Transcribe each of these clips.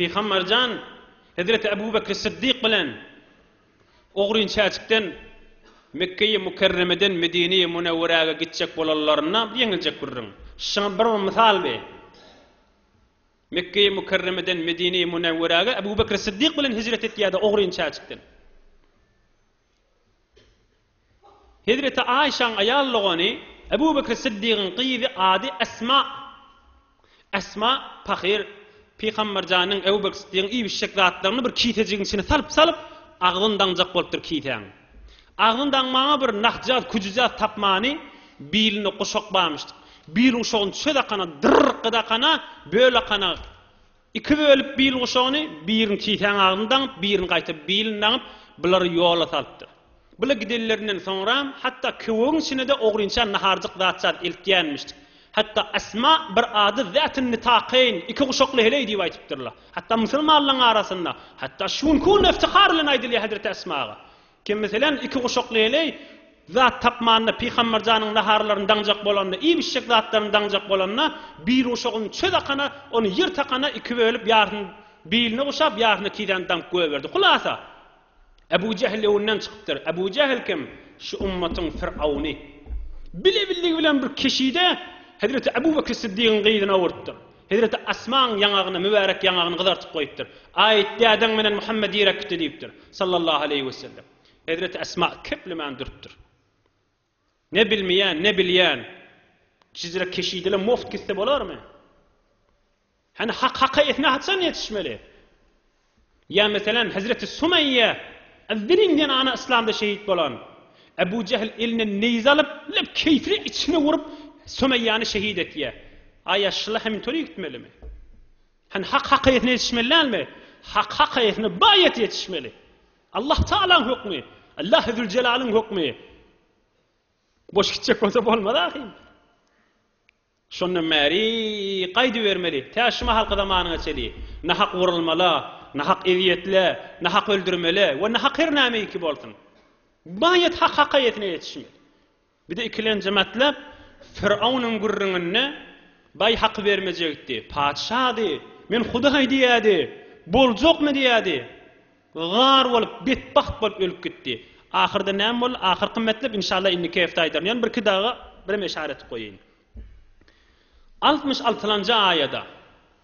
Pygamberjan Hezreti Ebu Bekri Syddyk bilen ogryn çäçikden Mekgeýi Mukerremeden Medineýi Munewweräge gitjek bolanlarynda ýeňiljek gürrüň. Şuňa bir mysal bi. Mekgeýi Mukerremeden Medineýi Munewweräge Ebu Bekri Syddyk bilen hijret etýärdi ogryn çäçikden. Hezreti Aişäň aýal dogany Ebu Bekr Syddygyň gyzy ady Esma. Esma pahyr Pygamber janyň Ebu Bekr Syddygyň iýibişjek zatlaryny bir kisejigiň içine salyp salyp agzyn daňjak bolupdyr kisäň. Agzyn daňmaga bir nahjaz küjüjaz tapmany biline guşak barmyşdyk. Bil guşagyny çöz akana dyrrrkgy dakana böl akana Iki bölüp bil guşagyny, birini çiseň agzyny daňyp, birini gaýta bilini daňyp, bulary ýola salypdyr. Bula gidenlerinden soňram, hatda köwegiň içine-de ogrynça naharjyk zat-şat eltýänmişdik. Hatda Esma bir ady Zatyn Nitakaýyn, iki guşakly heleý diýip aýdypdyrlar. Hatda musulmanlaryň arasynda, hatda şu günki günde yftihar bilen aýdylýar hezreti Esmaga. Kim, meselem, iki guşak leýleý zat tapmanda, Pygamber janyň naharlaryny daňjak bolanda, iýip-içjek zatlaryny daňjak bolanda, bir guşagyny çöz akana, ony ýer takana iki bölüp, ýarysyny biline guşap, ýarysyny tizäni daňyp goýberdi. Hulasa, Ebu Jähl öňünden çykypdyr. Ebu Jähl kim? Şu ümmatyň firauny. Bile-billigi bilen bir keşide Hezreti Ebu Bekri Syddygyň gyzyny owurtdyr. Hezreti Asmaň ýaňagyny, mübärek ýaňagyny gyzartyp goýupdyr. Aýt, dädeň menen Muhammet ýere gitdi diýipdir. Sallallahu aleýhi wesellem. Hezreti Asma keplemän durupdyr. Ne bilmeýän, ne bilýän. Şizre keşidele mugt gitse bolarmy? Hany hak haka etne haçan ýetişmeli? Ýa meselem, hezreti Sumeýýe Ezzeriň zenany yslamda şehit bolan. Ebu Jehl eline neýze alyp, lep keýpli içine urup, Sumeýýäni şehit etýä. A ýaşulylar hem intolýu gitmelimi? Hany hak hak eýesine ýetişmeli dälmi? Hak hak eýesine bu aýat ýetişmeli. Allah Tagalaň hökmi, Allahy Züljelaliň hökmi. Boş gitjek bolsa bolmaz ahyryn. Şondan bäri gaýdybermeli, tä şu mahalky zamanyňa çenli, nahak urulmala, nahak ezýetle, nahak öldürmele we nahak her nämeiki bolsun, baýat hak hakaýatyna ýetişmeli. Bizi ikilenjimatlap, Firawnyň gürrüňinde baý haky bermejekdi, patyşady, men hudaý diýýädi, boljakmy diýýädi. Gar bolup, betbagt bolup ölüp gitdi. Ahyrda näme boldy? Ahyrky metlep, inşallah, indiki hepde aýdaryn. Ýöne birki daga birem eşara etip goýaýyn. Altmyş altylanjy aýada,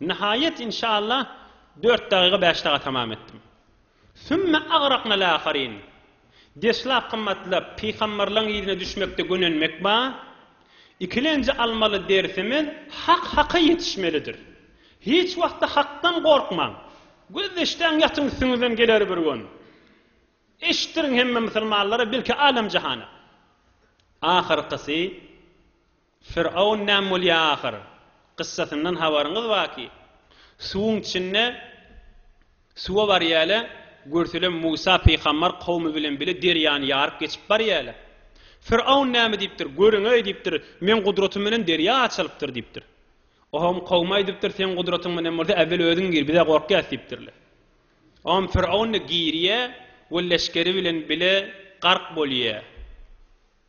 nihaýat, inşallah, dört dagyga bäş daga tamam etdim. Sümme agraqnal aharin. Deslap gymmatlap, pygamberleň yzyna düşmekde gönenmek ba, ikilenji almaly dersimiz Hak Haka ýetişmelidir. Hiç wagtda Hakdan gorkmaň. Gözleşdäň ýatyň üstüňizden geler bir gün. Eşitdiriň hemme musulmanlara belki alem jahana. Ahyrkysy Fir'aun näme bolýar ahyr? Kyssasyndan habaryňyz barki? Suwuň içinde suwa barýarlar, görseler Musa pygambar kowmy bilen bile derýany ýaryp geçip barýarlar. Fir'aun näme diýipdir? Görüň-eý diýipdir, meň gudratym bilen derýa açylypdyr diýipdir. Oom kowum aýdypdyr, seň gudratyň bilen bolsa äwwel özüň gir, biz-ä gorkýas diýipdirler. Oom Fir'aun-da girýär we leşgeri bilen bile gark bolýar.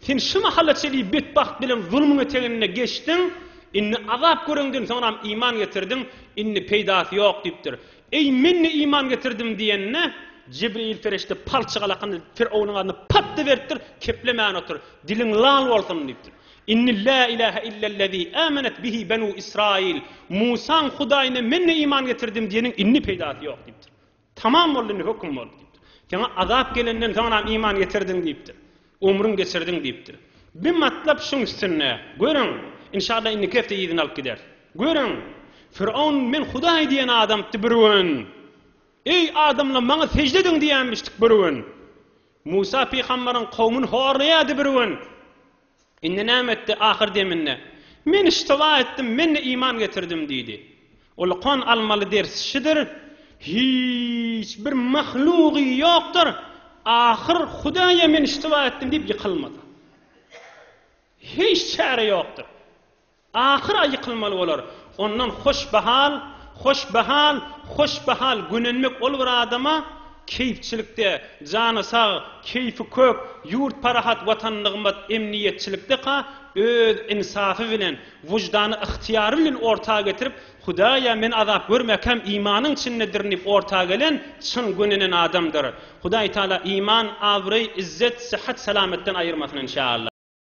Sen şu mahala çenli betbagt bilen zulmuň eteginde geçdiň, indi azap göreňden soňram iman getirdiň, indi peýdasy ýok diýipdir. Eý, men-de iman getirdim diýende, Jibril perişde palçyk alakanda Firowynyň adyna patdy beripdir, Keplemän otur, diliň lal bolsun diýipdir. Indi Lä ilähe illellezî âmenet bihi benû Israyîl, Musaň Hudaýyna men-de iman getirdim diýeniň indi peýdasy ýok diýipdir. Tamam boldy, indi höküm bol diýipdir. Saňa azap gelenden soňram iman getirdiň diýipdir. Ömrüň geçirdiň diýipdir. Bir matlap şuň üstünde, görüň, inşalla indiki hepde yzyny alyp gideris. Görüň, Firon men Hudaý diýen adamdy bir gün. Eý, adamlar maňa sežde ediň diýenmişdik bir gün. Musa pygamberyň kowmyny horlaýardy bir gün. Indi näme etdi? Ahyr deminde, Men iştiba etdim, men-de iman getirdim diýdi. Ulykan almaly ders şidir, hiç bir mahlugy ýokdur, ahyr Hudaýa men iştiba etdim diýip ýykylmasa. Hiç çäre ýokdur. Ahyr-a ýykylmaly bolar. Ondan hoş bahal, hoş bahal, hoş bahal gönenmek ol bir adama keýpçilikde, jany sag, keýpi kök, ýurt parahat, watan nygmat, emniýetçilikde-ka öz ynsafy bilen, wyždany yhtyýary bilen orta getirip, Hudaý-a, men azap görmäkäm imanyň içindedirn diýip orta gelen, çyn gönenen adamdyr. Hudaýtagala iman, abraý, izzet, syhat-salametden aýyrmasyn enşalla.